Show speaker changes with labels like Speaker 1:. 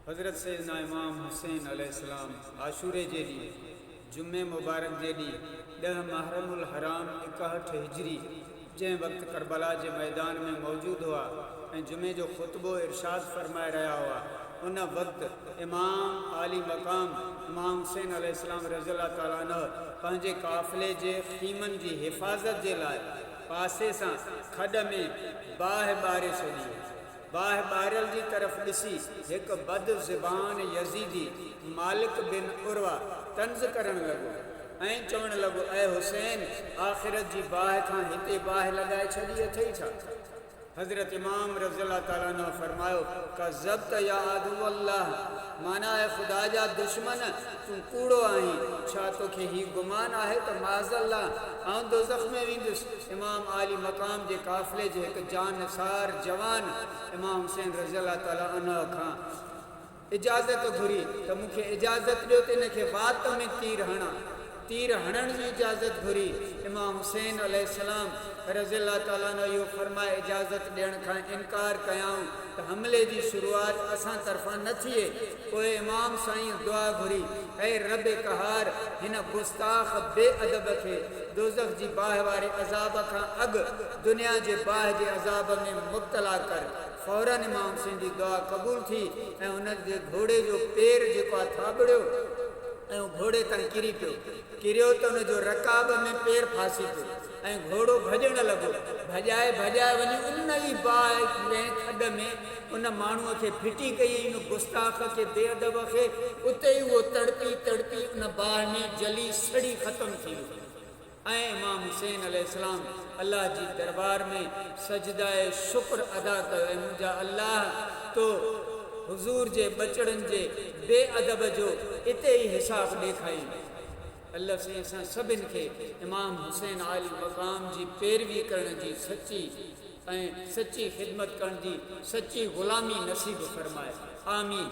Speaker 1: حضرت سيدنا امام حسين عليه السلام عاشوري جي ڏينهن، جمعي مبارڪ جي ڏينهن، ڏهه محرم الحرام ايڪاهٺ هجري، جنهن وقت ڪربلا جي ميدان ۾ موجود هئا ۽ جمعي جو خطبو ارشاد فرمائي رهيا هئا، ان وقت امام عالي مقام امام حسين عليه السلام رضي الله تعالٰي عنه پنهنجي قافلي جي خيمن جي حفاظت جي لاء پاسي سان کڏ ۾ باهه ٻاري ڇڏي هئي. باهه ٻاريل جي طرف ڏسي هڪ بد زبان يزيدي مالڪ بن عروه طنز ڪرڻ لڳو ۽ چوڻ لڳو اي حسين آخرت جي باهه کان هتي باهه لڳائي ڇڏي اٿئي ڇا؟ حضرت امام رضي الله تعالٰي عنه فرمايو ڪذبت يا عدو الله معنيٰ اي خدا جا دشمن! تون ڪوڙو آهين. ڇا توکي هي گمان آهي ته معاذالله آئون دوزخ ۾ ويندس؟ امام عالي مقام جي قافلي جي هڪ جانثار جوان امام حسين رضي الله تعاليٰ عنه کان اجازت گهري ته مون کي اجازت ڏيو ته ان کي وات ۾ تير هڻان. تير هڻڻ جي اجازت گهري، امام حسين عليه السلام رضي الله تعالٰي عنه اهو فرمائي اجازت ڏيڻ کان انڪار ڪيائون ته حملي جي شروعات اسان طرفان نه ٿئي، پوء امام سائين دعا گهري، اي رب قهار! هن گستاخ بي ادب کي دوزخ جي باهه واري عذاب کان اڳ دنيا جي باهه جي عذاب ۾ مبتلا ڪر. فورا امام حسين جي دعا قبول ٿي ۽ ان جي گهوڙي جو پير جيڪو آهي ٿاٻڙيو ۽ گهوڙي تان ڪري پيو. ڪريو ته ان جو رڪاب ۾ پير ڦاسي پيو ۽ گهوڙو ڀڄڻ لڳو. ڀڄائي ڀڄائي وڃي ان ئي باهه ۾ کڏ ۾ ان ماڻهوء کي ڦٽي ڪئي ۽ ان گستاخ کي بي ادب کي اتي ئي اهو تڙپي تڙپي ان باهه ۾ جلي سڙي ختم ٿي ويو. ۽ امام حسين عليه السلام الله جي دربار ۾ سجده شڪر ادا ڪيو اي منهنجا الله تو حضور جي ٻچڙن جي بي ادب جو اتي ئي حساب ڏيکائين الله سائين اسان سڀن کي امام حسين عالي مقام جي پيروي ڪرڻ جي سچي ۽ سچي خدمت ڪرڻ جي سچي غلامي نصيب فرمائي آمين.